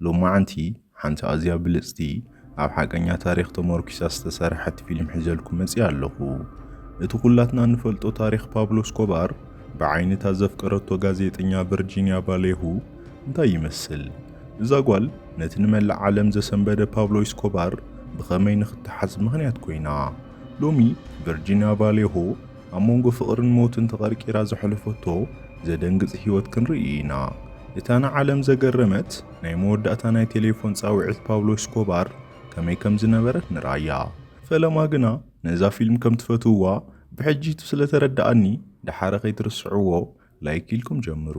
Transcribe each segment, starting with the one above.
ሎማዓንቲ ሓንቲ ኣዝያ ብልጽቲ ኣብ ሓቀኛ ታሪኽ ተመርኲሳ ዝተሰርሐት ፊልም ሒዘልኩም መጺኣ ኣለኹ። እቲ ኩላትና እንፈልጦ ታሪኽ ፓብሎ እስኮባር ብዓይኒ እታ ዘፍቀረቶ ጋዜጠኛ ቨርጂንያ ቫሌሁ እንታይ ይመስል? እዛ ጓል ነቲ ንመላእ ዓለም ዘሰንበደ ፓብሎ ኢስኮባር ብኸመይ ንኽተሓዝ ምኽንያት ኮይና? ሎሚ ቨርጂንያ ቫሌሆ ኣብ መንጎ ፍቕርን ሞትን ተቐርቂራ ዘሕለፈቶ ዘደንግጽ ህይወት ክንርኢ ኢና። እታ ንዓለም ዘገረመት ናይ መወዳእታ ናይ ቴሌፎን ጻውዒት ፓብሎ ኤስኮባር ከመይ ከም ዝነበረት ንርኣያ። ፈለማ ግና ነዛ ፊልም ከም ትፈትውዋ ብሕጂ'ቲ ስለ ተረድኣኒ ደሓር ከይትርስዕዎ ላይክ ኢልኩም ጀምሩ።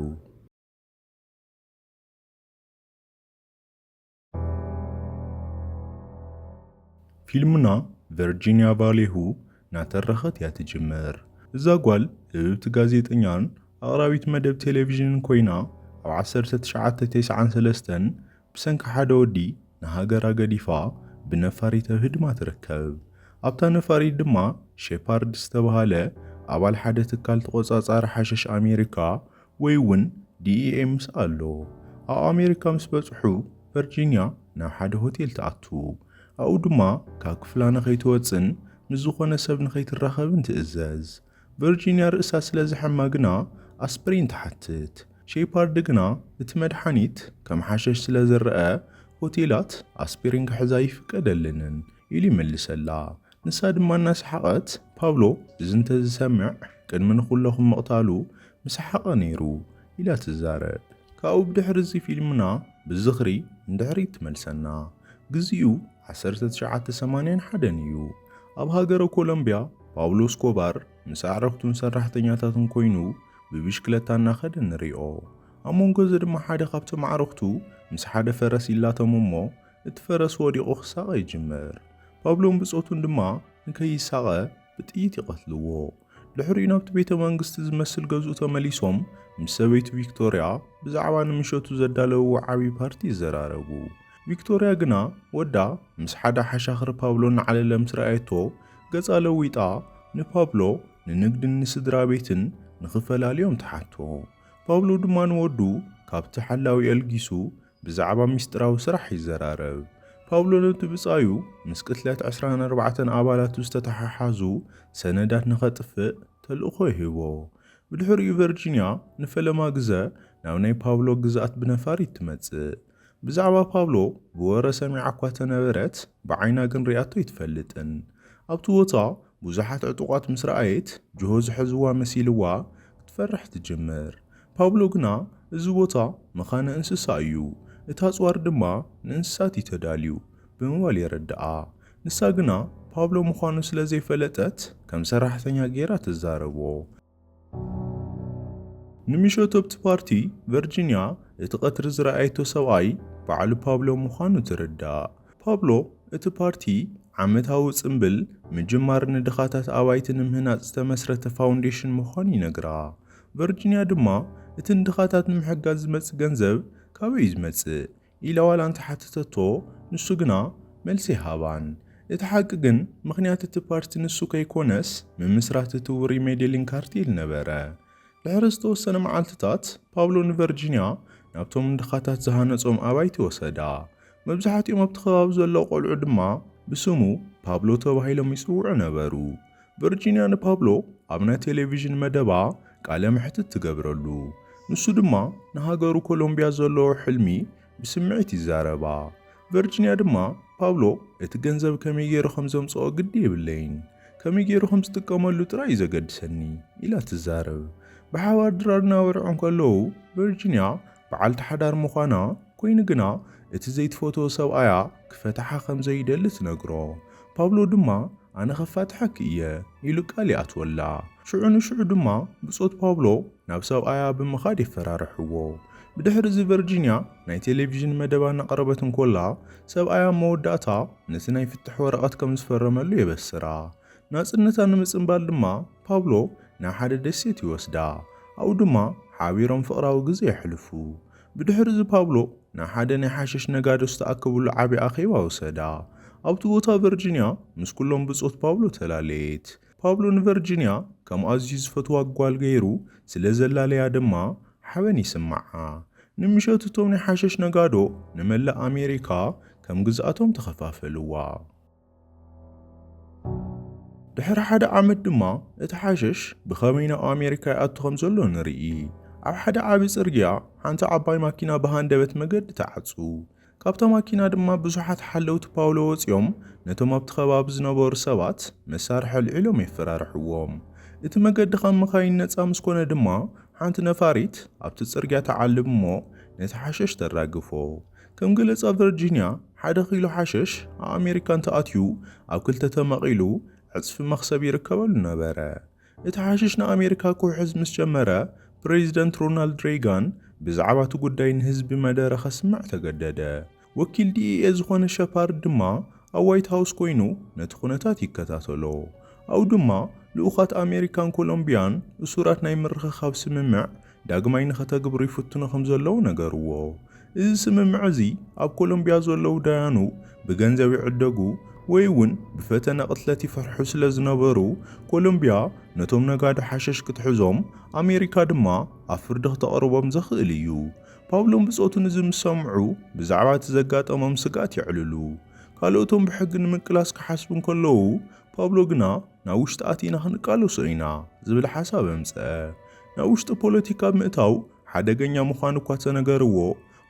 ፊልምና ቨርጂንያ ቫሌሁ እናተረኸት እያ ትጅምር። እዛ ጓል ህብብቲ ጋዜጠኛን ኣቕራቢት መደብ ቴሌቪዥንን ኮይና ኣብ 1993 ብሰንኪ ሓደ ወዲ ንሃገራ ገዲፋ ብነፋሪት ኣብ ህድማ ትርከብ። ኣብታ ነፋሪት ድማ ሼፓርድ ዝተባህለ ኣባል ሓደ ትካል ተቖጻጻሪ ሓሸሽ ኣሜሪካ ወይ እውን ዲኢኤ ምስ ኣሎ። ኣብ ኣሜሪካ ምስ በጽሑ ቨርጂንያ ናብ ሓደ ሆቴል ትኣቱ። ኣብኡ ድማ ካብ ክፍላ ንኸይትወጽእን ምስ ዝኾነ ሰብ ንኸይትራኸብን ትእዘዝ። ቨርጂንያ ርእሳ ስለ ዘሐማ ግና ኣስፕሪን ትሓትት። ሼፓርድ ግና እቲ መድሓኒት ከም ሓሸሽ ስለ ዝረኣ ሆቴላት ኣስፕሪን ክሕዛ ኣይፍቀደለንን። ኢሉ ይመልሰላ። ንሳ ድማ እናሰሓቐት፣ ፓብሎ እዚ እንተ ዝሰምዕ ቅድሚ ንኹለኹም ምቕታሉ ምሰሓቐ ነይሩ ኢላ ትዛረብ። ካብኡ ብድሕሪ እዚ ፊልምና ብዝኽሪ ንድሕሪት ትመልሰና። ግዚኡ ዓሰርተ ትሽዓተ ሰማንያን ሓደን እዩ። ኣብ ሃገረ ኮሎምብያ ፓብሎ እስኮባር ምስ ኣዕርኽቱን ሰራሕተኛታቱን ኮይኑ ብብሽክለታ እናኸደ ንሪኦ። ኣብ መንጎ እዚ ድማ ሓደ ካብቶም ኣዕርኽቱ ምስ ሓደ ፈረስ ይላተሙ እሞ እቲ ፈረስ ወዲቑ ክሳቐ ይጅምር። ፓብሎን ብጾቱን ድማ ንከይሳቐ ብጥይት ይቐትልዎ። ድሕሪኡ ናብቲ ቤተ መንግስቲ ዝመስል ገዝኡ ተመሊሶም ምስ ሰበይቱ ቪክቶርያ ብዛዕባ ንምሸቱ ዘዳለውዎ ዓብዪ ፓርቲ ይዘራረቡ። ቪክቶርያ ግና ወዳ ምስ ሓደ ሓሻኽሪ ፓብሎ እናዓለለ ምስ ረኣየቶ ገጻ ለዊጣ ንፓብሎ ንንግድን ንስድራ ቤትን ንኽፈላልዮም ትሓቶ። ፓብሎ ድማ ንወዱ ካብቲ ሓላዊ ኣልጊሱ ብዛዕባ ምስጢራዊ ስራሕ ይዘራረብ። ፓውሎ ነቲ ብጻዩ ምስ ቅትለት ዕስራን ኣርባዕተን ኣባላቱ ዝተተሓሓዙ ሰነዳት ንኸጥፍእ ተልእኾ ይህቦ። ብድሕሪኡ ቨርጂንያ ንፈለማ ግዘ ናብ ናይ ፓውሎ ግዝኣት ብነፋሪት ትመጽእ። ብዛዕባ ፓውሎ ብወረ ሰሚዓ እኳ ተነበረት ብዓይና ግን ሪኣቶ ኣይትፈልጥን። ኣብቲ ቦታ ብዙሓት ዕጡቓት ምስ ረኣየት፣ ጅሆ ዝሐዝዋ መሲልዋ ክትፈርሕ ትጅምር። ፓብሎ ግና እዚ ቦታ መኻነ እንስሳ እዩ፣ እቲ ኣጽዋር ድማ ንእንስሳት እዩ ተዳልዩ ብምባል የረድኣ። ንሳ ግና ፓብሎ ምዃኑ ስለ ዘይፈለጠት ከም ሰራሕተኛ ገይራ ትዛረቦ። ንምሸቶ'ቲ ፓርቲ ቨርጂንያ እቲ ቀትሪ ዝረኣየቶ ሰብኣይ ባዕሉ ፓብሎ ምዃኑ ትርዳእ። ፓብሎ እቲ ፓርቲ ዓመታዊ ጽምብል ምጅማር ንድኻታት ኣባይቲ ንምህናጽ ዝተመስረተ ፋውንዴሽን ምዃኑ ይነግራ። ቨርጂንያ ድማ እቲ ንድኻታት ንምሕጋዝ ዝመጽእ ገንዘብ ካበይ'ዩ ዝመጽእ? ኢላ ዋላ እንተ ሓተተቶ ንሱ ግና መልሲ ኣይሃባን። እቲ ሓቂ ግን ምኽንያት እቲ ፓርቲ ንሱ ከይኮነስ ምምስራት እቲ ውሩይ ሜዴሊን ካርቴል ነበረ። ድሕሪ ዝተወሰነ መዓልትታት ፓብሎ ንቨርጂንያ ናብቶም ንድኻታት ዝሃነጾም ኣባይቲ ወሰዳ። መብዛሕትኦም ኣብቲ ከባቢ ዘለዉ ቆልዑ ድማ ብስሙ ፓብሎ ተባሂሎም ይጽውዑ ነበሩ። ቨርጂንያ ንፓብሎ ኣብ ናይ ቴሌቪዥን መደባ ቃለ መሕትት ትገብረሉ፣ ንሱ ድማ ንሃገሩ ኮሎምብያ ዘለዎ ሕልሚ ብስምዒት ይዛረባ። ቨርጂንያ ድማ፣ ፓብሎ እቲ ገንዘብ ከመይ ገይሩ ከም ዘምጽኦ ግዲ የብለይን፣ ከመይ ገይሩ ከም ዝጥቀመሉ ጥራይ እዩ ዘገድሰኒ ኢላ ትዛረብ። ብሓባር ድራር እናበልዑ እንከለዉ ቨርጂንያ በዓልቲ ሓዳር ምዃና ኮይኑ ግና እቲ ዘይትፈትዎ ሰብኣያ ክፈትሓ ከም ዘይደሊ ትነግሮ። ፓብሎ ድማ ኣነ ከፋትሓኪ እየ ኢሉ ቃል ይኣትወላ። ሽዑ ንሽዑ ድማ ብጾት ፓብሎ ናብ ሰብኣያ ብምኻድ የፈራርሕዎ። ብድሕሪ እዚ ቨርጂንያ ናይ ቴሌቪዥን መደባ እናቕረበት እንኮላ ሰብኣያ ኣብ መወዳእታ ነቲ ናይ ፍትሕ ወረቐት ከም ዝፈረመሉ የበስራ። ናጽነታ ንምጽንባል ድማ ፓብሎ ናብ ሓደ ደሴት ይወስዳ፣ ኣብኡ ድማ ሓቢሮም ፍቕራዊ ግዜ የሕልፉ። ብድሕርዚ ፓብሎ ናብ ሓደ ናይ ሓሽሽ ነጋዶ ዝተኣከብሉ ዓቢ ኣኼባ ወሰዳ። ኣብቲ ቦታ ቨርጂንያ ምስ ኵሎም ብጾት ፓብሎ ተላለየት። ፓብሎ ንቨርጂንያ ከም ኣዝዩ ዝፈትዋ ጓል ገይሩ ስለ ዘላለያ ድማ ሓበን ይስምዓ። ንምሸቱ እቶም ናይ ሓሽሽ ነጋዶ ንመላእ ኣሜሪካ ከም ግዝኣቶም ተኸፋፈልዋ። ድሕሪ ሓደ ዓመት ድማ እቲ ሓሸሽ ብኸመይ ናብ ኣሜሪካ ይኣቱ ከም ዘሎ ንርኢ። ኣብ ሓደ ዓቢ ጽርግያ ሓንቲ ዓባይ ማኪና ብሃንደበት መገዲ ተዓጹ። ካብታ ማኪና ድማ ብዙሓት ሓለውቲ ፓውሎ ወጺኦም ነቶም ኣብቲ ከባቢ ዝነበሩ ሰባት መሳርሒ ኣልዒሎም የፈራርሕዎም እቲ መገዲ ካብ መኻይን ነጻ ምስ ኮነ ድማ ሓንቲ ነፋሪት ኣብቲ ጽርግያ ተዓልብ እሞ ነቲ ሓሸሽ ተራግፎ ከም ገለጻ ቨርጂንያ፣ ሓደ ኪሎ ሓሸሽ ኣብ ኣሜሪካ እንተ ኣትዩ ኣብ ክልተ ተመቒሉ ዕጽፊ መኽሰብ ይርከበሉ ነበረ። እቲ ሓሽሽ ንኣሜሪካ ክውሕዝ ምስ ጀመረ፣ ፕረዚደንት ሮናልድ ሬይጋን ብዛዕባ እቲ ጉዳይ ንህዝቢ መደረ ከስምዕ ተገደደ። ወኪል ዲኢኤ ዝዀነ ሸፓርድ ድማ ኣብ ዋይት ሃውስ ኰይኑ ነቲ ኵነታት ይከታተሎ። ኣብኡ ድማ ልኡኻት ኣሜሪካን ኮሎምብያን እሱራት ናይ ምርኽኻብ ስምምዕ ዳግማይ ንኸተግብሩ ይፍትኑ ከም ዘለዉ ነገርዎ። እዚ ስምምዕ እዚ ኣብ ኮሎምብያ ዘለዉ ዳያኑ ብገንዘብ ይዕደጉ ወይ'ውን ብፈተነ ቅትለት ይፈርሑ ስለ ዝነበሩ፣ ኮሎምብያ ነቶም ነጋዶ ሓሸሽ ክትሕዞም ኣሜሪካ ድማ ኣብ ፍርዲ ክተቕርቦም ዘኽእል እዩ። ፓብሎን ብጾቱን እዚ ምስ ሰምዑ ብዛዕባ እቲ ዘጋጠሞም ስግኣት የዕልሉ። ካልኦቶም ብሕጊ ንምቅላስ ክሓስቡ እንከለዉ፣ ፓብሎ ግና ናብ ውሽጢ ኣቲና ክንቃለሶ ኢና ዝብል ሓሳብ ኣምጽኣ። ናብ ውሽጢ ፖለቲካ ምእታው ሓደገኛ ምዃኑ እኳ ተነገርዎ፣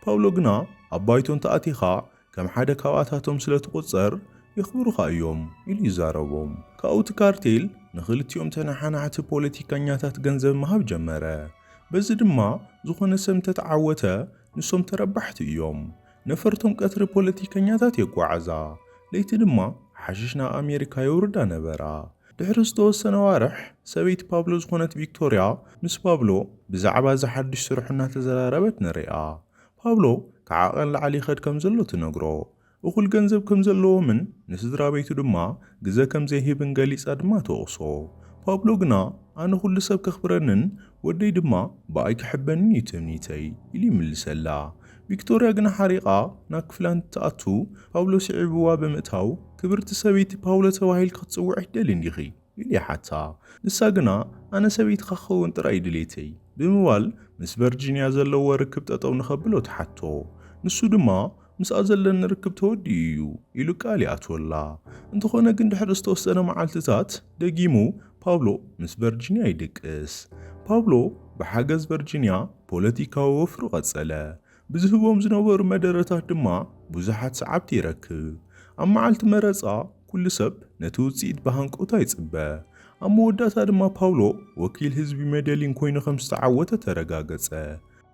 ፓውሎ ግና ኣብ ባይቶ እንተኣቲኻ ከም ሓደ ካብኣታቶም ስለ ትቑጸር የኽብሩኻ እዮም ኢሉ ይዛረቦም። ካብኡ እቲ ካርቴል ንኽልቲኦም ተነሓናሕቲ ፖለቲካኛታት ገንዘብ ምሃብ ጀመረ። በዚ ድማ ዝኾነ ሰብ እንተተዓወተ ንሶም ተረባሕቲ እዮም። ነፈርቶም ቀትሪ ፖለቲከኛታት የጓዕዛ፣ ለይቲ ድማ ሓሽሽ ናብ ኣሜሪካ የውርዳ ነበራ። ድሕሪ ዝተወሰነ ኣዋርሕ፣ ሰበይቲ ፓብሎ ዝዀነት ቪክቶርያ ምስ ፓብሎ ብዛዕባ እዚ ሓድሽ ስርሑ እናተዘራረበት ንርእያ። ፓብሎ ከዓቐን ላዕሊ ይኸድ ከም ዘሎ ትነግሮ፣ እኹል ገንዘብ ከም ዘለዎምን ንስድራቤቱ ድማ ግዘ ከም ዘይህብን ገሊጻ ድማ ትወቕሶ። ፓብሎ ግና፣ ኣነ ኵሉ ሰብ ከኽብረንን ወደይ ድማ ብኣይ ክሕበንን እዩ ትምኒተይ ኢሉ ይምልሰላ። ቪክቶርያ ግና ሓሪቓ ናብ ክፍላ እንትትኣቱ ፓውሎ ስዒብዋ ብምእታው ክብርቲ ሰበይቲ ፓውሎ ተባሂልኪ ክትጽውዒ ኣይትደልይን ዲኺ? ኢሉ ይሓታ። ንሳ ግና ኣነ ሰበይትኻ ክኸውን ጥራይ እዩ ድሌተይ ብምባል ምስ ቨርጂንያ ዘለዎ ርክብ ጠጠው ንኸብሎ ትሓቶ። ንሱ ድማ ምስኣ ዘለኒ ርክብ ተወዲኡ እዩ ኢሉ ቃል ይኣትወላ። እንተኾነ ግን ድሕሪ ዝተወሰነ መዓልትታት ደጊሙ ፓብሎ ምስ ቨርጂንያ ይድቅስ። ፓብሎ ብሓገዝ ቨርጂንያ ፖለቲካዊ ወፍሩ ቀጸለ፣ ብዝህቦም ዝነበሩ መደረታት ድማ ብዙሓት ሰዓብቲ ይረክብ። ኣብ መዓልቲ መረጻ ኩሉ ሰብ ነቲ ውጽኢት ብሃንቀውታ ይጽበ። ኣብ መወዳእታ ድማ ፓብሎ ወኪል ህዝቢ ሜደሊን ኮይኑ ከም ዝተዓወተ ተረጋገጸ።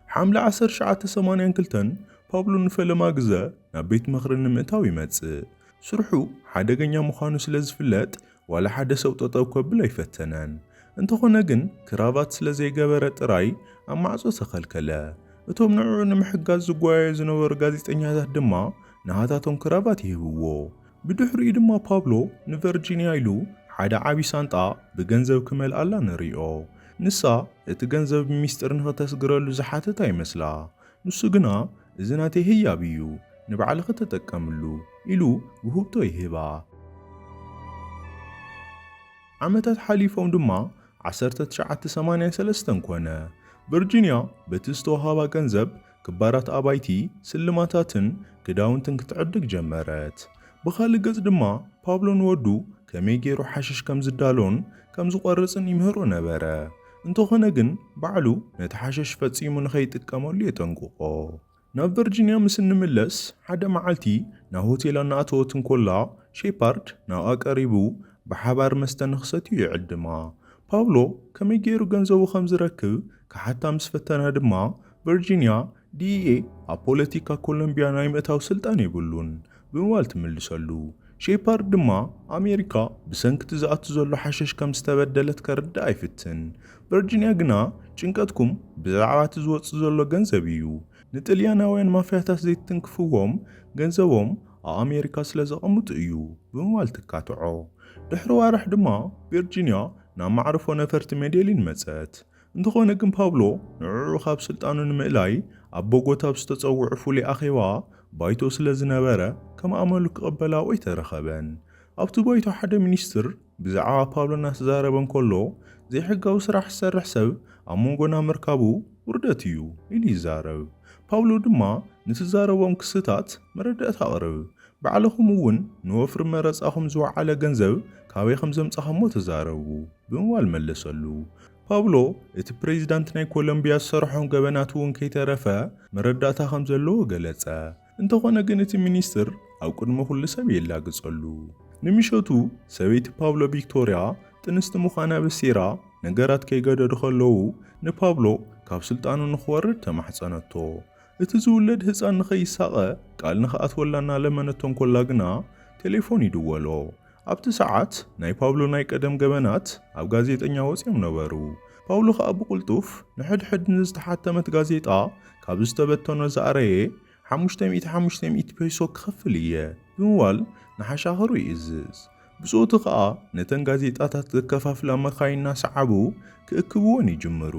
ሓምለ ዓሰርተ ትሽዓተ ሰማንያን ክልተን ፓብሎ ንፈለማ ግዘ ናብ ቤት ምኽሪ ንምእታው ይመጽእ። ስርሑ ሓደገኛ ምዃኑ ስለ ዝፍለጥ ዋላ ሓደ ሰብ ጠጠው ከብል ኣይፈተነን። እንተኾነ ግን ክራቫት ስለ ዘይገበረ ጥራይ ኣብ ማዕጾ ተኸልከለ። እቶም ንዕዑ ንምሕጋዝ ዝጓየዩ ዝነበሩ ጋዜጠኛታት ድማ ንሃታቶም ክራቫት ይህብዎ። ብድሕሪኡ ድማ ፓብሎ ንቨርጂንያ ኢሉ ሓደ ዓቢ ሳንጣ ብገንዘብ ክመልኣላ ንሪኦ። ንሳ እቲ ገንዘብ ብሚስጢር ንኽተስግረሉ ዝሓተታ ይመስላ። ንሱ ግና እዚ ናተይ ህያብ እዩ፣ ንባዕልኺ ተጠቀምሉ ኢሉ ውህብቶ ይህባ። ዓመታት ሓሊፎም ድማ ዓሰርተ ትሽዓተ ሰማንያ ሰለስተ ኮነ። ቨርጂንያ በቲ ዝተወሃባ ገንዘብ ክባራት ኣባይቲ፣ ስልማታትን ክዳውንትን ክትዕድግ ጀመረት። ብኻልእ ገጽ ድማ ፓብሎ ንወዱ ከመይ ገይሩ ሓሽሽ ከም ዝዳሎን ከም ዝቖርጽን ይምህሮ ነበረ። እንተኾነ ግን ባዕሉ ነቲ ሓሸሽ ፈጺሙ ንኸይጥቀመሉ የጠንቅቖ። ናብ ቨርጂንያ ምስ እንምለስ፣ ሓደ መዓልቲ ናብ ሆቴል ኣናኣተወት እንኮላ፣ ሼፓርድ ናብኣ ቀሪቡ ብሓባር መስተ ንኽሰትዩ ይዕድማ። ፓብሎ ከመይ ገይሩ ገንዘቡ ከም ዝረክብ ክሓታ ምስ ፈተና ድማ፣ ቨርጂንያ፣ ዲኢኤ ኣብ ፖለቲካ ኮሎምብያ ናይ ምእታው ስልጣን የብሉን፣ ብምባል ትምልሰሉ። ሼፓርድ ድማ፣ ኣሜሪካ ብሰንኪ እቲ ዝኣቱ ዘሎ ሓሸሽ ከም ዝተበደለት ከርድኣ ይፍትን። ቨርጂንያ ግና፣ ጭንቀትኩም ብዛዕባ እቲ ዝወጽእ ዘሎ ገንዘብ እዩ። ንጥልያናውያን ማፍያታት ዘይትትንክፍዎም፣ ገንዘቦም ኣብ ኣሜሪካ ስለ ዘቐምጡ እዩ። ብምባል ትካትዖ። ድሕሪ ኣዋርሕ ድማ፣ ቨርጂንያ ናብ መዓርፎ ነፈርቲ ሜዴሊን መጸት። እንተኾነ ግን ፓብሎ ንዕዑ ካብ ስልጣኑ ንምእላይ ኣብ ቦጎታ ኣብ ዝተጸውዑ ፍሉይ ኣኼባ ባይቶ ስለ ዝነበረ ከም ኣመሉ ክቕበላኡ ኣይተረኸበን። ኣብቲ ባይቶ ሓደ ሚኒስትር ብዛዕባ ፓብሎ እናተዛረበ እንከሎ ዘይሕጋዊ ስራሕ ዝሰርሕ ሰብ ኣብ መንጎና ምርካቡ ውርደት እዩ ኢሉ ይዛረብ። ፓብሎ ድማ ንትዛረቦም ክስታት መረዳእታ ኣቕርብ። ባዕልኹም እውን ንወፍሪ መረጻኹም ዝወዓለ ገንዘብ ካበይ ከም ዘምጻኹሞ ተዛረቡ ብምባል መለሰሉ። ፓብሎ እቲ ፕሬዚዳንት ናይ ኮሎምቢያ ዝሰርሖም ገበናት እውን ከይተረፈ መረዳእታ ከም ዘለዎ ገለጸ። እንተኾነ ግን እቲ ሚኒስትር ኣብ ቅድሚ ኩሉ ሰብ የላግጸሉ። ንምሸቱ ሰበይቲ ፓብሎ ቪክቶሪያ ጥንስቲ ምዃና በሲራ ነገራት ከይገደዱ ከለዉ ንፓብሎ ካብ ስልጣኑ ንኽወርድ ተማሕጸነቶ። እቲ ዝውለድ ህጻን ንኸይሳቐ ቃል ንኽኣትወላ እናለመነቶ እንኮላ ግና ቴሌፎን ይድወሎ። ኣብቲ ሰዓት ናይ ፓብሎ ናይ ቀደም ገበናት ኣብ ጋዜጠኛ ወጺኦም ነበሩ። ፓውሎ ከኣ ብቕልጡፍ ንሕድሕድ ንዝተሓተመት ጋዜጣ ካብ ዝተበተኖ ዝኣረየ ሓሙሽተ ሚእቲ ሓሙሽተ ሚእቲ ፔሶ ክኸፍል እየ ብምባል ንሓሻኽሩ ይእዝዝ። ብጾቱ ከኣ ነተን ጋዜጣታት ዘከፋፍላ መካይን እናሰዓቡ ክእክብወን ይጅምሩ።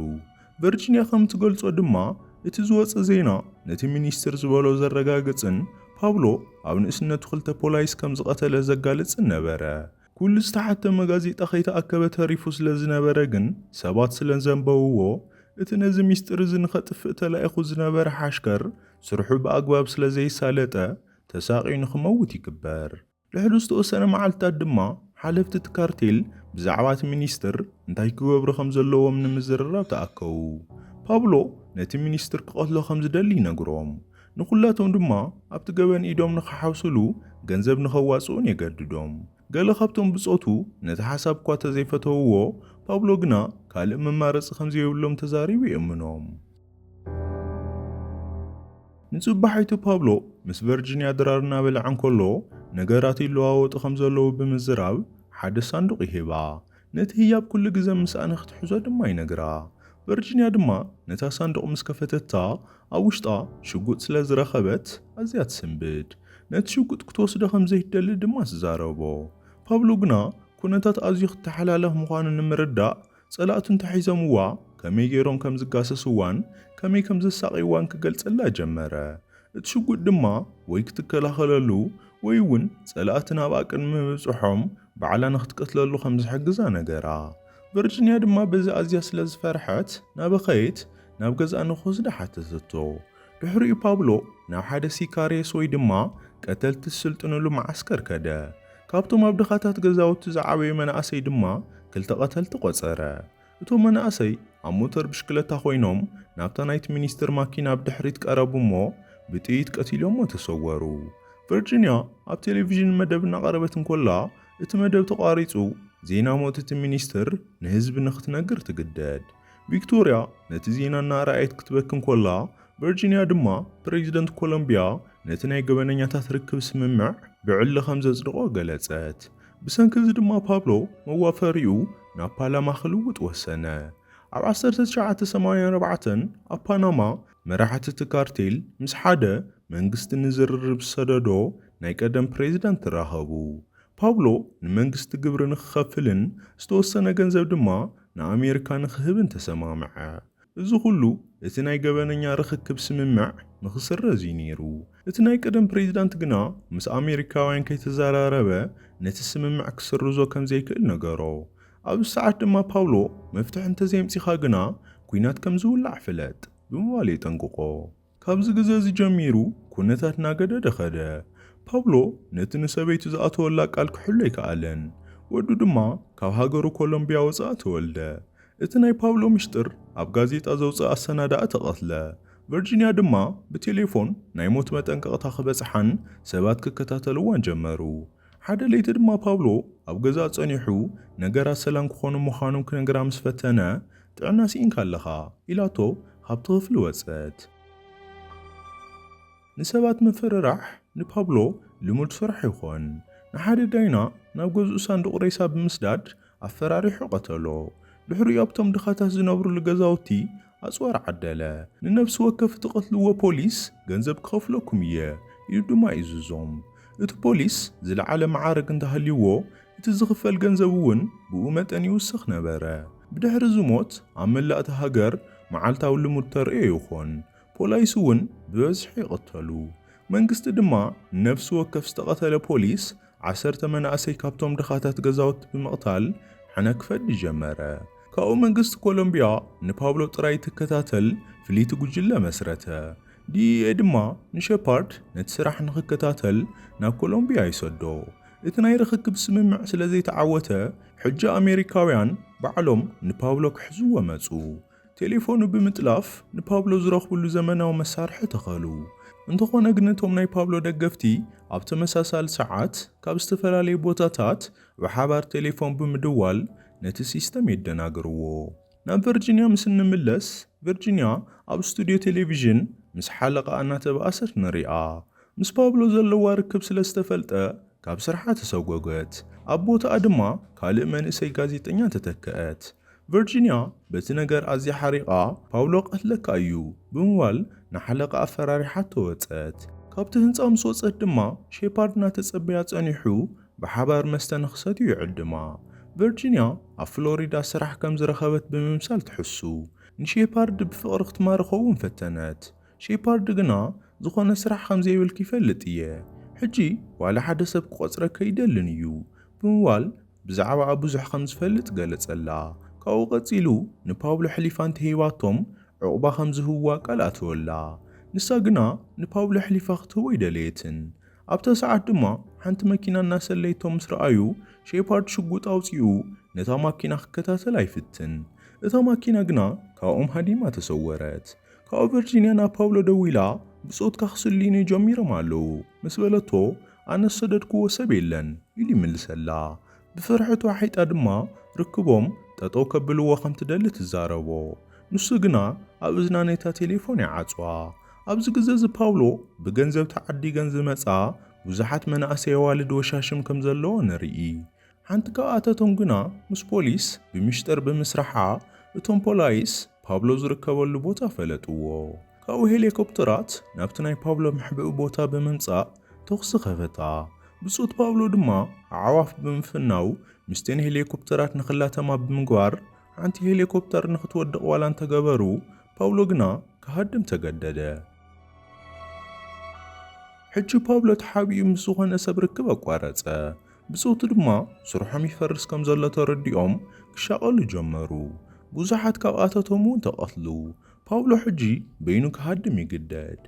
ቨርጂንያ ከም ትገልጾ ድማ፣ እቲ ዝወጸ ዜና ነቲ ሚኒስትር ዝበሎ ዘረጋግጽን ፓብሎ ኣብ ንእስነቱ ክልተ ፖላይስ ከም ዝቐተለ ዘጋልጽን ነበረ። ኩሉ ዝተሓተመ ጋዜጣ ከይተኣከበ ተሪፉ ስለ ዝነበረ ግን፣ ሰባት ስለ ዘንበብዎ፣ እቲ ነዚ ሚስጢር እዚ ንኸጥፍእ ተላኢኹ ዝነበረ ሓሽከር ስርሑ ብኣግባብ ስለ ዘይሳለጠ ተሳቕዩ ንኽመውት ይግበር። ድሕሪ ዝተወሰነ መዓልትታት ድማ ሓለፍቲ እቲ ካርቴል ብዛዕባ እቲ ሚኒስትር እንታይ ክገብሩ ከም ዘለዎም ንምዝርራብ ተኣከቡ። ፓብሎ ነቲ ሚኒስትር ክቐትሎ ከም ዝደሊ ይነግሮም፣ ንዅላቶም ድማ ኣብቲ ገበን ኢዶም ንኽሓውስሉ ገንዘብ ንኸዋጽኡን የገድዶም። ገለ ካብቶም ብጾቱ ነቲ ሓሳብ እኳ እንተ ዘይፈተውዎ፣ ፓብሎ ግና ካልእ መማረጺ ከም ዘየብሎም ተዛሪቡ የእምኖም። ንጽባሒቱ ፓብሎ ምስ ቨርጂንያ ድራር እናበልዐ እንከሎ ነገራት ይለዋወጡ ከም ዘለዉ ብምዝራብ ሓደ ሳንዱቕ ይህባ። ነቲ ህያብ ኩሉ ግዘ ምስኣ ንኽትሕዞ ድማ ይነግራ። ቨርጂንያ ድማ ነታ ሳንዱቕ ምስ ከፈተታ ኣብ ውሽጣ ሽጉጥ ስለ ዝረኸበት ኣዝያ ትስንብድ። ነቲ ሽጉጥ ክትወስዶ ከም ዘይትደሊ ድማ ትዛረቦ። ፓብሎ ግና ኩነታት ኣዝዩ ክተሓላለኽ ምዃኑ ንምርዳእ ጸላእቱ እንተሒዞምዋ ከመይ ገይሮም ከም ዝጋሰስዋን ከመይ ከም ዘሳቕይዋን ክገልጸላ ጀመረ። እቲ ሽጉጥ ድማ ወይ ክትከላኸለሉ ወይ እውን ጸላእቲ ናብኣ ቅድሚ ምብጽሖም ባዕላ ንኽትቀትለሉ ከም ዝሕግዛ ነገራ። ቨርጂንያ ድማ በዚ ኣዝያ ስለ ዝፈርሐት እናበኸየት ናብ ገዝኣ ንኽትወስዳ ሓተተቶ። ድሕሪኡ ፓብሎ ናብ ሓደ ሲካሬስ ወይ ድማ ቀተልቲ ዝስልጥንሉ መዓስከር ከደ። ካብቶም ኣብ ድኻታት ገዛውቲ ዝዓበዩ መናእሰይ ድማ ክልተ ቀተልቲ ቆጸረ። እቶም መናእሰይ ኣብ ሞተር ብሽክለታ ኮይኖም ናብታ ናይቲ ሚኒስትር ማኪና ብድሕሪት ቀረቡ እሞ ብጥይት ቀቲሎሞ ተሰወሩ። ቨርጂንያ ኣብ ቴሌቪዥን መደብ እናቐረበት እንኮላ እቲ መደብ ተቋሪጹ ዜና ሞት እቲ ሚኒስትር ንህዝቢ ንክትነግር ትግደድ። ቪክቶርያ ነቲ ዜና እናረኣየት ክትበኪ እንኮላ፣ ቨርጂንያ ድማ ፕረዚደንት ኮሎምብያ ነቲ ናይ ገበነኛታት ርክብ ስምምዕ ብዕሊ ከም ዘጽድቖ ገለጸት። ብሰንኪ እዚ ድማ ፓብሎ መዋፈሪኡ ናብ ፓላማ ክልውጥ ወሰነ። ኣብ ዓሰርተ ትሽዓተ ሰማንያ ኣርባዕተን ኣብ ፓናማ መራሕቲ እቲ ካርቴል ምስ ሓደ መንግስቲ ንዝርርብ ዝሰደዶ ናይ ቀደም ፕረዚደንት ተራኸቡ። ፓብሎ ንመንግስቲ ግብሪ ንክኸፍልን ዝተወሰነ ገንዘብ ድማ ንኣሜርካ ንክህብን ተሰማምዐ። እዚ ኩሉ እቲ ናይ ገበነኛ ርኽክብ ስምምዕ ንክስረዝ እዩ ነይሩ። እቲ ናይ ቀደም ፕሬዚዳንት ግና ምስ ኣሜሪካውያን ከይተዘራረበ ነቲ ስምምዕ ክስርዞ ከምዘይክእል ነገሮ። ኣብዚ ሰዓት ድማ ፓውሎ መፍትሒ እንተዘየምጺኻ ግና ኩናት ከምዝውላዕ ፍለጥ ብምባል የጠንቅቖ። ካብዚ ግዘ እዚ ጀሚሩ ኵነታት እናገደደ ኸደ። ፓብሎ ነቲ ንሰበይቱ ዝኣተወላ ቃል ክሕሉ ኣይከኣለን፣ ወዱ ድማ ካብ ሃገሩ ኮሎምብያ ወጻኢ ተወልደ። እቲ ናይ ፓብሎ ምሽጥር ኣብ ጋዜጣ ዘውጽኣ ኣሰናዳኢ ተቐትለ፣ ቨርጂንያ ድማ ብቴሌፎን ናይ ሞት መጠንቀቕታ ክበጽሓን ሰባት ክከታተልዋን ጀመሩ። ሓደ ለይቲ ድማ ፓብሎ ኣብ ገዛእ ጸኒሑ ነገራት ሰላም ክዀኑ ምዃኖም ክነግራ ምስ ፈተነ ጥዕና ሲኢንካ ኣለኻ ኢላቶ ካብቲ ክፍሊ ወጸት። ንሰባት ምፍርራሕ ንፓብሎ ልሙድ ስራሕ ይኾን። ንሓደ ዳይና ናብ ገዝኡ ሳንዱቕ ሬሳ ብምስዳድ ኣፈራሪሑ ቀተሎ። ድሕሪኡ ኣብቶም ድኻታት ዝነብሩሉ ገዛውቲ ኣጽዋር ዓደለ። ንነፍሲ ወከፍ እትቐትልዎ ፖሊስ ገንዘብ ክኸፍለኩም እየ ኢሉ ድማ ይእዝዞም። እቲ ፖሊስ ዝለዓለ መዓርግ እንተሃልዩዎ እቲ ዝኽፈል ገንዘብ እውን ብኡ መጠን ይውስኽ ነበረ። ብድሕሪ እዚ ሞት ኣብ መላእ እታ ሃገር መዓልታዊ ልሙድ ተርእዮ ይኾን። ፖላይስ እውን ብበዝሒ ይቕተሉ። መንግስቲ ድማ ንነፍሲ ወከፍ ዝተቐተለ ፖሊስ ዓሰርተ መናእሰይ ካብቶም ድኻታት ገዛውቲ ብምቕታል ሕነ ክፈዲ ጀመረ። ካብኡ መንግስቲ ኮሎምቢያ ንፓብሎ ጥራይ እትከታተል ፍልይቲ ጉጅለ መስረተ። ዲኢኤ ድማ ንሸፓርድ ነቲ ስራሕ ንኽከታተል ናብ ኮሎምቢያ ይሰዶ። እቲ ናይ ርኽክብ ስምምዕ ስለ ዘይተዓወተ፣ ሕጂ ኣሜሪካውያን ባዕሎም ንፓብሎ ክሕዝዎ መጹ። ቴሌፎኑ ብምጥላፍ ንፓብሎ ዝረኽብሉ ዘመናዊ መሳርሒ ተኸሉ። እንተኾነ ግን እቶም ናይ ፓብሎ ደገፍቲ ኣብ ተመሳሳሊ ሰዓት ካብ ዝተፈላለዩ ቦታታት ብሓባር ቴሌፎን ብምድዋል ነቲ ሲስተም የደናግርዎ። ናብ ቨርጂንያ ምስ እንምለስ፣ ቨርጂንያ ኣብ ስቱድዮ ቴሌቪዥን ምስ ሓለቓኣ እናተበኣሰት ንሪኣ። ምስ ፓብሎ ዘለዋ ርክብ ስለ ዝተፈልጠ ካብ ስርሓ ተሰጐገት፣ ኣብ ቦታኣ ድማ ካልእ መንእሰይ ጋዜጠኛ ተተክአት። ቨርጂንያ በቲ ነገር ኣዝያ ሓሪቓ፣ ፓብሎ ክቐትለካ እዩ ብምባል ንሓለቓኣ ኣፈራሪሓቶ ወጸት። ካብቲ ህንጻ ምስ ወጸት ድማ ሼፓርድ እናተጸበያ ጸኒሑ ብሓባር መስተ ንኽሰትዩ ይዕድማ። ቨርጂንያ ኣብ ፍሎሪዳ ስራሕ ከም ዝረኸበት ብምምሳል ትሕሱ። ንሼፓርድ ብፍቕሪ ክትማርኾ'ውን ፈተነት። ሼፓርድ ግና፣ ዝኾነ ስራሕ ከም ዘይብልኪ ይፈልጥ እየ። ሕጂ ዋላ ሓደ ሰብ ክቖጽረኪ ኣይደልን እዩ። ብምባል ብዛዕባኣ ብዙሕ ከም ዝፈልጥ ገለጸላ። ካብኡ ቀጺሉ ንፓብሎ ኣሕሊፋ እንተ ሂባቶም ዑቕባ ከም ዝህብዋ ቃል ኣተወላ። ንሳ ግና ንፓብሎ ኣሕሊፋ ክትህቦ ኣይደለየትን። ኣብታ ሰዓት ድማ ሓንቲ መኪና እናሰለየቶ ምስ ረኣዩ ሼፓርድ ሽጉጥ ኣውፂኡ ነታ ማኪና ክከታተላ ይፍትን። እታ ማኪና ግና ካብኦም ሃዲማ ተሰወረት። ካብኡ ቨርጂንያ ናብ ፓውሎ ደዊላ ብፆትካ ክስልዩኒ ጀሚሮም ኣለዉ ምስ በለቶ ኣነ ዝሰደድክዎ ሰብ የለን ኢሉ ይምልሰላ። ብፍርሒ ተዋሒጣ ድማ ርክቦም ጠጠው ከብልዎ ከም ትደሊ ትዛረቦ። ንሱ ግና ኣብ እዝና ነታ ቴሌፎን ይዓጽዋ። ኣብዚ ግዘ እዚ ፓውሎ ብገንዘብ ተዓዲገን ዝመጽኣ ብዙሓት መናእሰይ ኣዋልድ ወሻሽም ከም ዘለዎ ንርኢ። ሓንቲ ካብኣተቶም ግና ምስ ፖሊስ ብሚሽጥር ብምስራሓ እቶም ፖላይስ ፓብሎ ዝርከበሉ ቦታ ፈለጥዎ። ካብኡ ሄሌኮፕተራት ናብቲ ናይ ፓብሎ መሕብኢ ቦታ ብምምጻእ ተኹሲ ከፈታ። ብጾት ፓውሎ ድማ ኣዕዋፍ ብምፍናው ምስ'ተን ሄልዮኮፕተራት ንኽላተማ ብምግባር ሓንቲ ሄልዮኮፕተር ንኽትወድቕ ዋላ እንተገበሩ ፓውሎ ግና ክሃድም ተገደደ። ሕጂ ፓውሎ ተሓቢኡ ምስ ዝኾነ ሰብ ርክብ ኣቋረጸ። ብጾቱ ድማ ስርሖም ይፈርስ ከም ዘሎ ተረዲኦም ክሻቐሉ ጀመሩ። ብዙሓት ካብኣታቶም'ውን ተቐትሉ። ፓውሎ ሕጂ በይኑ ክሃድም ይግደድ።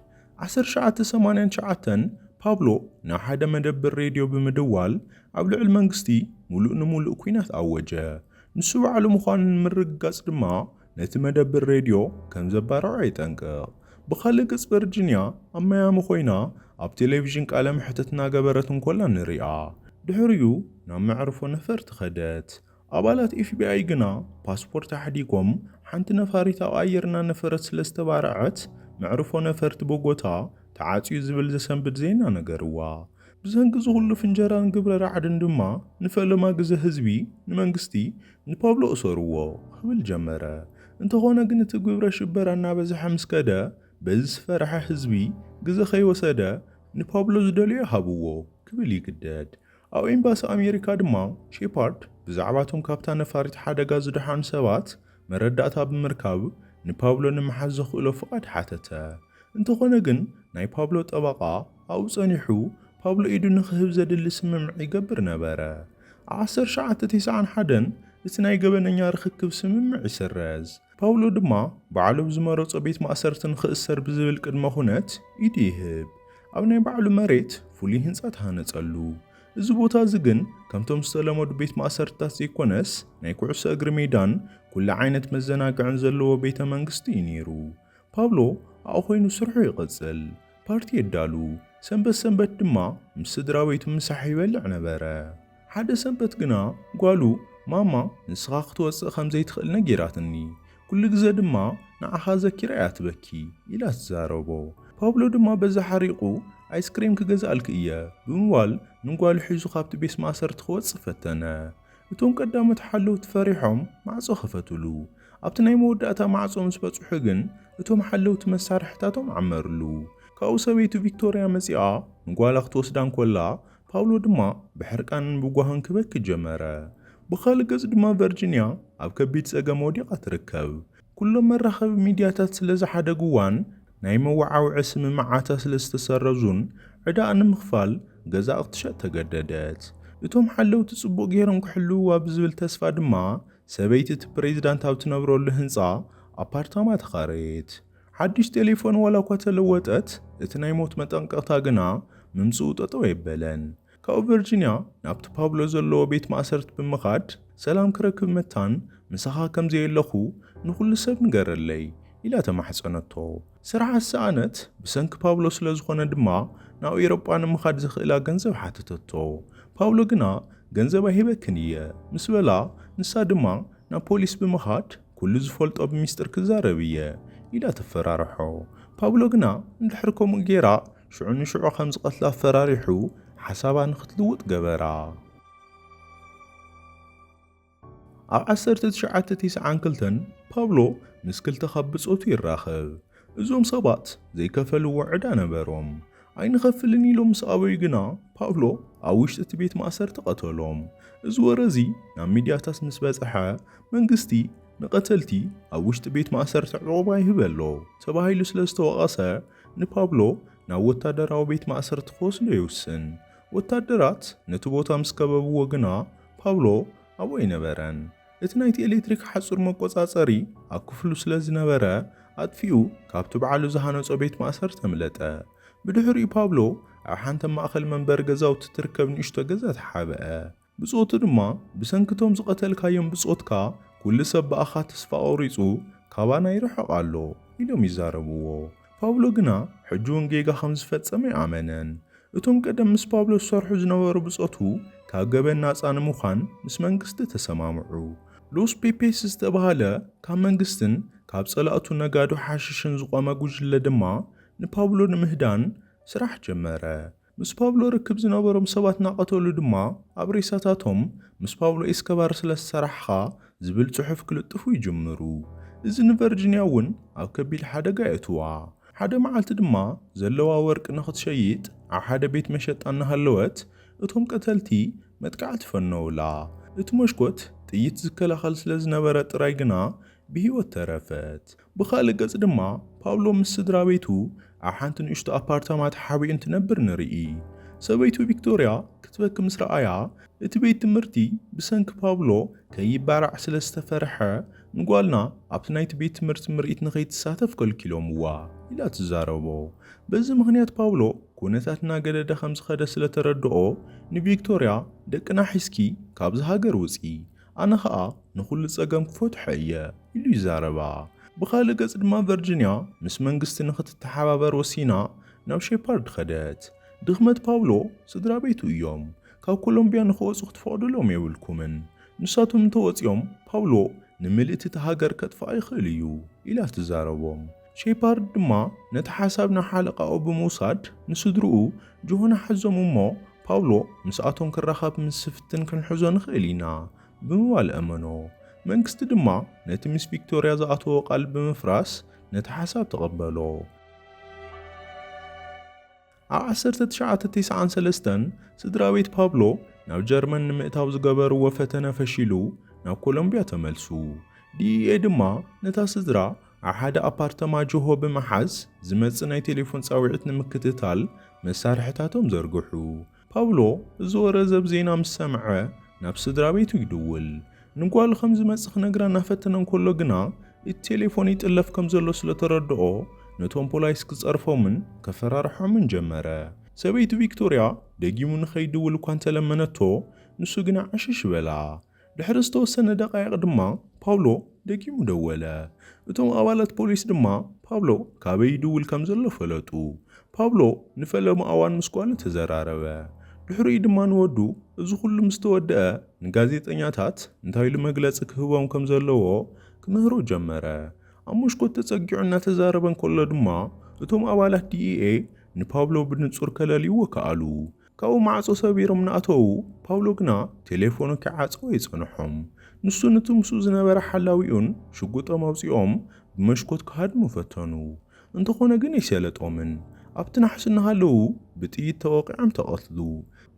ዓሰርተ ትሽዓተ ሰማንያን ትሽዓተን ፓብሎ ናብ ሓደ መደብር ሬድዮ ብምድዋል ኣብ ልዕል መንግስቲ ሙሉእ ንሙሉእ ኩናት ኣወጀ። ንሱ ባዕሉ ምዃኑ ንምርግጋጽ ድማ ነቲ መደብር ሬድዮ ከም ዘባርዖ የጠንቅቕ። ብኻልእ ገጽ ቨርጂንያ ኣብ ማያሚ ኮይና ኣብ ቴሌቪዥን ቃለ መሕትት እናገበረት እንኮላ ንሪኣ። ድሕሪኡ ናብ መዕርፎ ነፈርቲ ከደት። ኣባላት ኤፍቢኣይ ግና ፓስፖርት ኣሕዲጎም፣ ሓንቲ ነፋሪት ኣቓይርና ነፈረት ስለ ዝተባረዐት መዕርፎ ነፈርቲ ቦጎታ ተዓጽዩ ዝብል ዘሰንብድ ዜና ነገርዋ። ብሰንኪ እዚ ኹሉ ፍንጀራን ግብረ ራዕድን ድማ ንፈለማ ግዘ ህዝቢ ንመንግስቲ ንፓብሎ እሰርዎ ክብል ጀመረ። እንተኾነ ግን እቲ ግብረ ሽበራ እናበዝሐ ምስ ከደ በዚ ዝፈረሐ ህዝቢ ግዘ ከይወሰደ ንፓብሎ ዝደልዮ ሃብዎ ክብል ይግደድ። ኣብ ኤምባሲ ኣሜሪካ ድማ ሼፓርድ ብዛዕባ እቶም ካብታ ነፋሪት ሓደጋ ዝደሓኑ ሰባት መረዳእታ ብምርካብ ንፓብሎ ንምሓዝ ዘኽእሎ ፍቓድ ሓተተ። እንተዀነ ግን ናይ ፓብሎ ጠበቓ ኣብኡ ጸኒሑ ፓብሎ ኢዱ ንኽህብ ዘድሊ ስምምዕ ይገብር ነበረ። ኣብ ዓሰርተ ትሽዓተ ተስዓን ሓደን እቲ ናይ ገበነኛ ርኽክብ ስምምዕ ይስረዝ። ፓውሎ ድማ ባዕሉ ኣብ ዝመረጾ ቤት ማእሰርቲ ንኽእሰር ብዝብል ቅድመ ኹነት ኢዱ ይህብ። ኣብ ናይ ባዕሉ መሬት ፍሉይ ህንጻ ተሃነጸሉ። እዚ ቦታ እዚ ግን ከምቶም ዝተለመዱ ቤት ማእሰርትታት ዘይኮነስ ናይ ኩዕሶ እግሪ ሜዳን ኩሉ ዓይነት መዘናግዕን ዘለዎ ቤተ መንግስቲ እዩ ነይሩ። ፓብሎ ኣብኡ ኮይኑ ስርሑ ይቕጽል። ፓርቲ የዳሉ፣ ሰንበት ሰንበት ድማ ምስ ስድራቤቱ ምሳሕ ይበልዕ ነበረ። ሓደ ሰንበት ግና ጓሉ ማማ ንስኻ ክትወጽእ ከም ዘይትኽእል ነጊራትኒ፣ ኩሉ ግዘ ድማ ንዓኻ ዘኪራ እያ ትበኪ ኢላ ትዛረቦ። ፓብሎ ድማ በዚ ሓሪቑ ኣይስክሬም ክገዝኣልኪ እየ ብምባል ንጓሉ ሒዙ ካብቲ ቤት ማእሰርቲ ክወጽእ ፈተነ። እቶም ቀዳሞት ሓለውቲ ፈሪሖም ማዕጾ ከፈትሉ። ኣብቲ ናይ መወዳእታ ማዕጾ ምስ በጽሑ ግን እቶም ሓለውቲ መሳርሒታቶም ዓመርሉ። ካብኡ ሰበይቱ ቪክቶርያ መጺኣ ንጓላ ክትወስዳ እንኮላ ፓውሎ ድማ ብሕርቃንን ብጓህን ክበኪ ጀመረ። ብኻልእ ገጽ ድማ ቨርጂንያ ኣብ ከቢድ ጸገም ወዲቓ ትርከብ። ኩሎም መራኸቢ ሚድያታት ስለ ዝሓደግዋን ናይ መወዓውዒ ስምምዓታ ስለ ዝተሰረዙን ዕዳኣ ንምኽፋል ገዛኣ ክትሸጥ ተገደደት። እቶም ሓለውቲ ጽቡቕ ገይሮም ክሕልውዋ ብዝብል ተስፋ ድማ ሰበይቲ እቲ ፕሬዝዳንት ኣብ ትነብረሉ ህንጻ ኣፓርታማ ተኻረየት። ሓድሽ ቴሌፎን ዋላኳ ተለወጠት፣ እቲ ናይ ሞት መጠንቀቕታ ግና ምምጽኡ ጠጠው ኣየበለን። ካብኡ ቨርጂንያ ናብቲ ፓብሎ ዘለዎ ቤት ማእሰርቲ ብምኻድ ሰላም ክረክብ መታን ምሳኻ ከም ዘየለኹ ንኹሉ ሰብ ንገረለይ ኢላ ተማሕጸነቶ። ስርሓ ዝሰኣነት ብሰንኪ ፓብሎ ስለ ዝኾነ ድማ ናብ ኤሮጳ ንምኻድ ዘኽእላ ገንዘብ ሓተተቶ። ፓብሎ ግና ገንዘብ ኣይህበክን እየ ምስ በላ ንሳ ድማ ናብ ፖሊስ ብምኻድ፣ ኩሉ ዝፈልጦ ብሚስጥር ክዛረብ እየ ኢላ ተፈራርሖ። ፓብሎ ግና እንድሕር ከምኡ ጌራ ሽዑ ንሽዑ ከም ዝቐትላ ኣፈራሪሑ ሓሳባ ንክትልውጥ ገበራ። ኣብ ዓሰርተ ትሽዓተ ቲስዓን ክልተን ፓብሎ ምስ ክልተ ካብ ብጾቱ ይራኸብ። እዞም ሰባት ዘይከፈልዎ ዕዳ ነበሮም። ኣይንኸፍልን ኢሎም ምስ ኣበዩ ግና ፓብሎ ኣብ ውሽጢ እቲ ቤት ማእሰርቲ ቀተሎም። እዚ ወረ እዚ ናብ ሚድያታት ምስ በጽሐ መንግስቲ ንቐተልቲ ኣብ ውሽጢ ቤት ማእሰርቲ ዑቕባ ይህበሎ ተባሂሉ ስለ ዝተወቐሰ ንፓብሎ ናብ ወታደራዊ ቤት ማእሰርቲ ክወስዶ ይውስን። ወታደራት ነቲ ቦታ ምስ ከበብዎ ግና ፓብሎ ኣብኡ ኣይነበረን። እቲ ናይቲ ኤሌክትሪክ ሓጹር መቆጻጸሪ ኣብ ክፍሉ ስለ ዝነበረ ኣጥፊኡ ካብቲ ባዕሉ ዝሃነጾ ቤት ማእሰርቲ ኣምለጠ። ብድሕሪኡ ፓብሎ ኣብ ሓንቲ ኣብ ማእከል መንበሪ ገዛውቲ እትርከብ ንእሽቶ ገዛ ተሓብአ። ብጾቱ ድማ ብሰንኪ እቶም ዝቐተልካዮም ብጾትካ ኩሉ ሰብ ብኣኻ ተስፋ ቆሪጹ ካባና ይርሕቕ ኣሎ ኢሎም ይዛረብዎ። ፓውሎ ግና ሕጂውን ጌጋ ኸም ዝፈጸመ ኣይኣመነን። እቶም ቀደም ምስ ፓውሎ ዝሰርሑ ዝነበሩ ብጾቱ ካብ ገበን ናጻ ንምዃን ምስ መንግስቲ ተሰማምዑ። ሎስ ፔፔስ ዝተባህለ ካብ መንግስትን ካብ ጸላእቱ ነጋዶ ሓሽሽን ዝቖመ ጕጅለ ድማ ንፓውሎ ንምህዳን ስራሕ ጀመረ። ምስ ፓብሎ ርክብ ዝነበሮም ሰባት እናቐተሉ ድማ ኣብ ሬሳታቶም ምስ ፓብሎ ኤስከባር ስለ ዝሰራሕኻ ዝብል ጽሑፍ ክልጥፉ ይጅምሩ። እዚ ንቨርጂንያ እውን ኣብ ከቢድ ሓደጋ የእትዋ። ሓደ መዓልቲ ድማ ዘለዋ ወርቂ ንኽትሸይጥ ኣብ ሓደ ቤት መሸጣ እናሃለወት እቶም ቀተልቲ መጥቃዕቲ ፈነዉላ። እቲ መሽኮት ጥይት ዝከላኸል ስለ ዝነበረ ጥራይ ግና ብህይወት ተረፈት። ብኻልእ ገጽ ድማ ፓብሎ ምስ ስድራቤቱ ኣብ ሓንቲ ንእሽቶ ኣፓርታማ ተሓቢኡ እንትነብር ንርኢ። ሰበይቱ ቪክቶርያ ክትበኪ ምስ ረኣያ፣ እቲ ቤት ትምህርቲ ብሰንኪ ፓብሎ ከይባራዕ ስለ ዝተፈርሐ ንጓልና ኣብቲ ናይቲ ቤት ትምህርቲ ምርኢት ንኸይትሳተፍ ከልኪሎምዋ ኢላ ትዛረቦ። በዚ ምኽንያት ፓብሎ ኵነታት እናገደደ ከም ዝኸደ ስለ ተረድኦ ንቪክቶርያ ደቅና ሒዝኪ ካብዛ ሃገር ውጽኢ፣ ኣነ ኸኣ ንዅሉ ጸገም ክፈትሖ እየ ኢሉ ይዛረባ። ብኻልእ ገጽ ድማ ቨርጂንያ ምስ መንግስቲ ንኽትተሓባበር ወሲና ናብ ሼፓርድ ኸደት። ድኽመት ፓብሎ ስድራ ቤቱ እዮም። ካብ ኮሎምብያ ንኽወጹ ክትፈቕዱሎም የብልኩምን። ንሳቶም እንተ ወጺኦም ፓብሎ ንምልእቲ እታ ሃገር ከጥፍኣ ይኽእል እዩ ኢላ ትዛረቦም። ሼፓርድ ድማ ነቲ ሓሳብ ንሓለቓኡ ብምውሳድ ንስድርኡ ጆሆና ሓዞም እሞ ፓውሎ ምስኣቶም ክራኸብ ምስ ዝፍትን ክንሕዞ ንኽእል ኢና ብምባል ኣእመኖ። መንግስቲ ድማ ነቲ ምስ ቪክቶርያ ዝኣተዎ ቃል ብምፍራስ ነቲ ሓሳብ ተቐበሎ። ኣብ ዓሰርተ ትሽዓተ ቴስዓን ሰለስተን ስድራቤት ፓብሎ ናብ ጀርመን ንምእታው ዝገበርዎ ፈተነ ፈሺሉ ናብ ኮሎምብያ ተመልሱ። ዲኢኤ ድማ ነታ ስድራ ኣብ ሓደ ኣፓርተማ ጅሆ ብምሓዝ ዝመጽእ ናይ ቴሌፎን ጻውዒት ንምክትታል መሳርሕታቶም ዘርግሑ። ፓብሎ እዚ ወረ ዘብ ዜና ምስ ሰምዐ ናብ ስድራቤቱ ይድውል። ንጓሉ ከም ዝመጽእ ክነግራ እናፈተነ እንከሎ ግና እቲ ቴሌፎን ይጥለፍ ከም ዘሎ ስለ ተረድኦ ነቶም ፖላይስ ክጸርፎምን ከፈራርሖምን ጀመረ። ሰበይቲ ቪክቶርያ ደጊሙ ንኸይድውል እኳ እንተ ለመነቶ ንሱ ግና ዕሽሽ በላ። ድሕሪ ዝተወሰነ ደቓይቕ ድማ ፓውሎ ደጊሙ ደወለ። እቶም ኣባላት ፖሊስ ድማ ፓብሎ ካበይ ይድውል ከም ዘሎ ፈለጡ። ፓብሎ ንፈለማ እዋን ምስ ጓሉ ተዘራረበ። ድሕሪኡ ድማ ንወዱ እዚ ኹሉ ምስ ተወድኣ ንጋዜጠኛታት እንታይ ኢሉ መግለጺ ክህቦም ከም ዘለዎ ክምህሮ ጀመረ። ኣብ መስኮት ተጸጊዑ እናተዛረበ እንከሎ ድማ እቶም ኣባላት ዲኢኤ ንፓብሎ ብንጹር ከለልይዎ ከኣሉ። ካብኡ ማዕጾ ሰቢሮም እናኣተዉ፣ ፓብሎ ግና ቴሌፎኑ ከይዓጸወ የጸንሖም። ንሱን እቲ ምስኡ ዝነበረ ሓላዊኡን ሽጉጦም ኣውጺኦም ብመስኮት ክሃድሙ ፈተኑ። እንተኾነ ግን ኣይሰለጦምን። ኣብቲ ናሕሲ እናሃለዉ ብጥይት ተወቒዖም ተቐትሉ።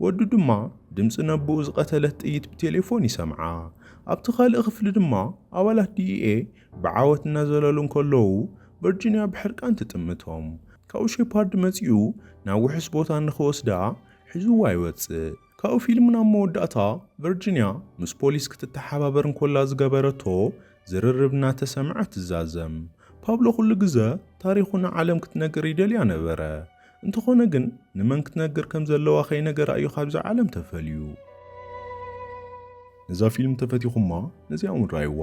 ወዱ ድማ ድምጺ ነቦኡ ዝቐተለት ጥይት ብቴሌፎን ይሰምዓ። ኣብቲ ካልእ ክፍሊ ድማ ኣባላት ዲኢኤ ብዓወት እናዘለሉ እንከለዉ ቨርጂንያ ብሕርቃን ትጥምቶም። ካብኡ ሼፓርድ መጺኡ ናብ ውሑስ ቦታ ንኽወስዳ ሒዙዋ ይወጽእ። ካብኡ ፊልም ናብ መወዳእታ ቨርጂንያ ምስ ፖሊስ ክትተሓባበር እንኮላ ዝገበረቶ ዝርርብ እናተሰምዐ ትዛዘም። ፓብሎ ኩሉ ግዘ ታሪኹ ንዓለም ክትነግር ይደልያ ነበረ። እንተኾነ ግን ንመን ክትነግር ከም ዘለዋ ከይነገራ እዩ ካብዛ ዓለም ተፈልዩ። ነዛ ፊልም ተፈቲኹማ ነዚኣ ውን ራይዋ።